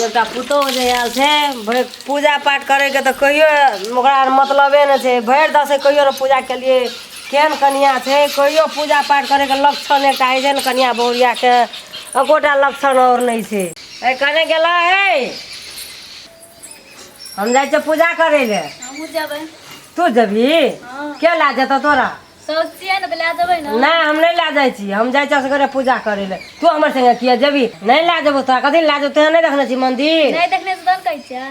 एकटा पुतोहु जे आयल छै भरि पूजा पाठ करैके तऽ कहियो ओकरा मतलबे नहि छै भरि दसैँ कहियो ने पूजा केलियै केहन कनिआँ छै कहियो पूजा पाठ करैके लक्षण एकटा होइ छै ने कनिआँ बहुरियाके एकोटा लक्षण आओर नहि छै ए कने गेला हे हम जाइ छियै पूजा करै लए हमहूँ जेबै तू जेबही के लए जेतौ तोरा सौसिया ने तऽ लए जेबै ने नहि हम नहि लए जाइ छी हम जाइ छी असगरे पूजा करै लए तू हमर संगे किया जेबी नहि लए जेबो तोरा कथी लए जेबो तोरा नहि देखने छी मंदिर नहि देखने से तहन कहै छियै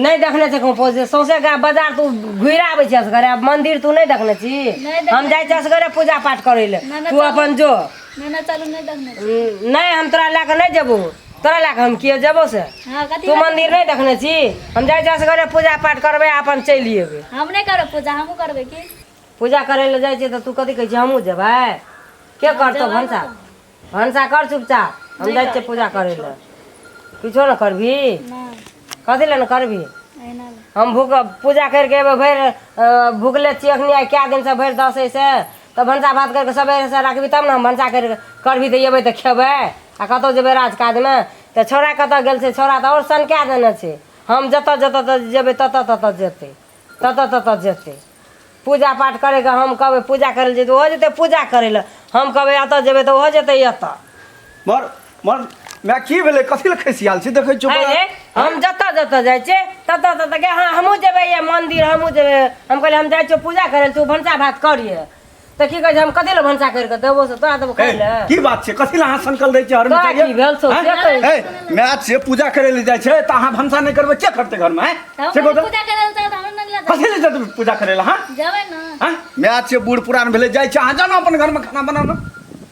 नहि देखने छी कहूँ पहुँचे सौंसे गाय बाजार तू घुरि आबै छी असगरे आब मंदिर तू नहि देखने छी नहि देखने हम जाइ छी असगरे पूजा पाठ करै लए नहि, नहि, तू अपन जो मैंने चलू नहीं देखने छी। हम्म, नहीं हम तोरा लए कऽ नहि जेबो तोरा लए कऽ हम किए जेबो से हाँ कथी तू बात- मंदिर नहीं देखने छी हम जाइ जस घरे पूजा पाठ करबै अपन चलि एबै हम नहीं करब पूजा हमहूँ करबै की पूजा करै लए जाइ छियै तऽ तू कथी कहै छियै हमहूँ जेबै के करतौ जेबै भनसा ने। भनसा कर चुपचाप हम नहि जाइ छियै करबै, पूजा करै लए किछो ने करबी नहीं कथी लए ने करबी एना हम भूख पूजा करिके एबै भरि अ, भुखले छियै एखनी आइ कए दिनसँ भरि दसैसँ तऽ भनसा भात करि कऽ सवेरेसँ राखबही तब ने हम भनसा करि कऽ करबही तऽ अयबै तऽ खयबै आ कतहु जयबै राज काजमे तऽ छौड़ा कतय गेल छै छौड़ा तऽ आओर सनकाए देने छै हम जतय जतय तऽ जयबै ततय ततय जेतै ततय ततय जेतै पूजा पाठ करयके हम कहबै पूजा करय लए जेतै ओहो जेतै पूजा करय लए हम कहबै एतय जयबै तऽ ओहो जेतै एतय मर मर मैं की भेलै कथी लए खैसियाल छी देखै छियौ अरे बड़ा- हम जतऽ जतऽ जाइ छै ततऽ ततऽ गे हाँ हमहूँ जेबै ये मन्दिर हमहूँ जेबै हम कहलियै हम जाइ छियौ पूजा करै लए तू भनसा भात करिए तऽ की कहै छै हम कथी लए भनसा करि कऽ देबो से तोरा देबो खाइ लए हे, की बात छै कथी लए अहाँ सनकल रहै छियै हर तोरा की भेल छौ, से कही। हे मैं आज से पूजा करै लए जाइ छै तऽ अहाँ भनसा नहि करबै के करतै घरमे हैं? तब से कहू तऽ, पूजा करे लए हमरा नहि लगा कथी लए जेतै पूजा करै लए हाँ जेबै ना हाँ मैं आज से बूढ़ पुरान भेलै जाइ छै अहाँ जानो अपन घरमे खाना बनाना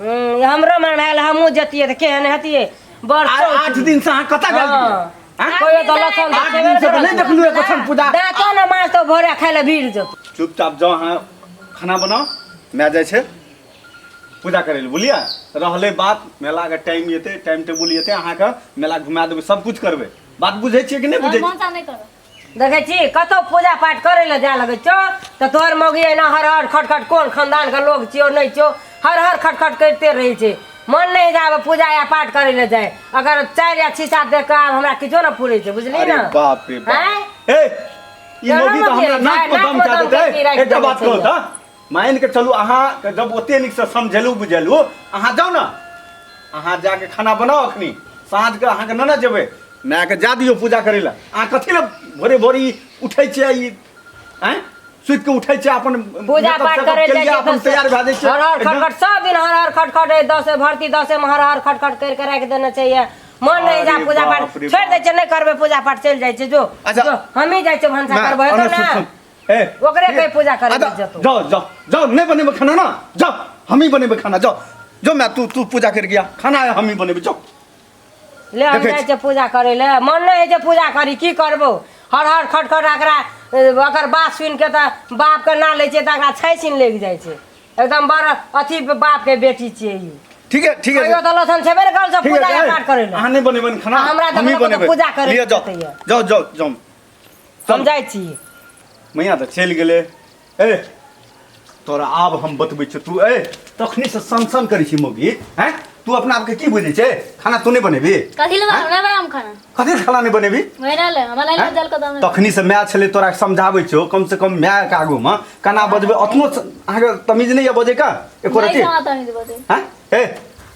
हम्म, हमरो मन भेल हमहूँ जतियै तऽ केहन हतियै बड़ आ- चौक। आठ दिन से अहाँ कतऽ गेल रहियै? हाँ। आँय? कोई तो लक्षण आठ देखेबे दिन से तऽ करत। नहीं देखलू एक कथन पूजा दाँतो ने माछ तऽ भोरे खाय लए भीड़ जेतौ चुपचाप जाओ अहाँ खाना बनाओ मैं जाइ छै पूजा करै लए बुझलियै रहलै बात मेलाके टाइम एतै टाइम टेबुल एतै अहाँके मेला घुमा देबै सब कुछ करबै बात बुझै छियै कि नहि बुझै छियै मौसा नहि करब देखै छी कतौ पूजा पाठ करै लए जाय लगै छौ तऽ तोहर मौगी एना हर हर खट खट कोन खानदान के लोग छियौ नहि छियौ हर हर खट खट करिते रहै छै मन नहि होइत आब पूजा या पाठ करै लए जाय अगर चारि या छीसा देख कऽ आब हमरा किछो ने पुरै छै बुझली अरे ने बाप रे बाप आँय? ए ई चलो मौगी तऽ ने हमरा बेटा, नाक पर दम नाक पर कए दम देतै कए के राखि एकटा देने बात छै कहू यौ। तऽ मानि कऽ चलू अहाँके जब ओते नीकसँ समझेलहुँ बुझेलहुँ अहाँ जाउ ने अहाँ जाके खाना बनाउ अखनी साँझके अहाँके ननद जेबै मायके जा दियौ पूजा करै लए अहाँ कथी लए भोरे भोरे ई उठै छियै ई आँय सुति के उठै छियै अपन पूजा मेकअप पाठ तेकअप करे केलियै, जाइ अपन तैयार भए जाइ छियै हर हर एकदम। खटखट सब दिन हर हर खटखट ए, दसे भर्ती दसे में हर हर खटखट कर के राख देना चाहिए मन नहीं जा अरे पूजा बाप पाठ रे छोड़ दे बाप। छे नहीं करबे पूजा पाठ चल जाए छे जो अच्छा। जो हम ही जाए छे भंसा माय, करबे अरे तो सुन, ना सुन। ए ओकरे कहीं पूजा करे अदा- मत जा तू। जाओ जाओ जाओ नहीं बनेबे खाना ना जाओ हम ही बनेबे खाना जाओ जो मैं तू तू पूजा कर गया खाना है हम ही बनेबे जाओ ले हम देखै जाइ छी। छै पूजा करै ले मन नहि होइ छै पूजा करी की करबो हर हर खट खट एकरा ए, ओकर बात सुनि के तऽ बाप के ना लै छै तऽ एकरा छै छीन लागि जाइ छै एकदम बड़ अथी बाप के बेटी छियै ई ठीक है ठीक है कहियो तऽ लथन छेबे ने करल सब ठीक पूजा है पाठ करै ले अहाँ नहीं बनेबे खाना हमरा तऽ हम ही मतलब बनेबे पूजा करै लिया जाओ पड़तै है। जाओ जाओ जाओ हम जाइ छी मैया तऽ चलि गेलै ए तोरा आब हम बतबै छियौ तू ए तखनी से सन सन करै छी मौगी हैं तू अपना आपके की बुझै छै खाना तू नहि बनेबी कथी लए बनाउ? नहि बनाउ खाना कथी खाना नहि बनेबी वही रहले हमरा लाइल जल के दाम तखनी से माय छलै तोरा समझाबै छौ कम से कम माय के आगू मे केना बजबै अतनो स- अहाँके तमीज नहि यऽ बजै का एको रति नहीं तमीज बजे हैं ए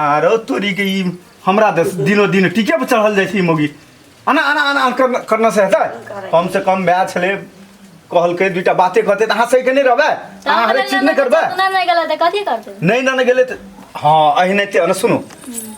आरो तोरी के ई हमरा दस दिनो दिन टीके पर चढ़ल जाइ छै ई मोगी आना आना आना आना करना करना से हेतै कम से कम भए छलै कहलकै दुइटा बाते कहतै तऽ अहाँ सही के नहि रहबै अहाँ हरेक चीज नहि करबै ना नहीं गलत है कथी करते नहि ना गेलै तऽ हँ अहिने ते ने सुनू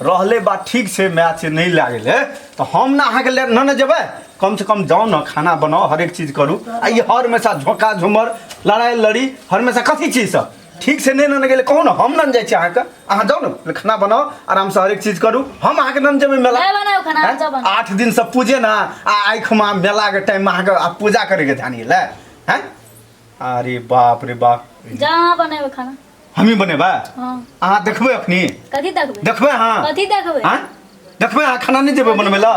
रहले बात ठीक छै मैच नहि लागल है तऽ हम ने अहाँके ले ना ने जेबै कम से कम जाउ ने खाना बनाउ हरेक चीज करू आ ई हर हमेशा झोंका झुमर लड़ाइ लड़ी हर हमेशा कथी चीज सब ठीक से नहि नन गेलै कहू ने हम नन जाइ छी अहाँके अहाँ जाउ ने खाना बनाउ आरामसँ हरेक चीज करू हम अहाँके नन जेबै मेला नहि बनाउ खाना, आँय? जाउ बनाउ। आठ दिनसँ पूजे ने आ आइ खुमा मेलाके टाइममे अहाँके आ पूजा करैके ध्यान यऽ लए हैं अरे बाप रे बाप जा अहाँ बनेबै खाना हमही बनेबै हँ अहाँ देखबै अखनी कथी देखबै देखबै अहाँ कथी देखबै आँय? देखबै अहाँ खाना नहि जेबै बनबै लए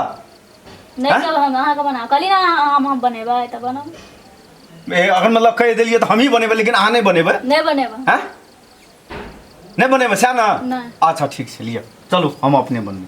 नहि आँय? चल हम अहाँके बना कहली ने अहाँ हम हम बनेबै तऽ बनब ए, अगर मतलब कहि देलियै तऽ हमही बनेबै लेकिन अहाँ नहि बनेबै नहि बनेबै हैं नहीं बने बचा ना नहीं। अच्छा ठीक से लिया चलो हम अपने बन में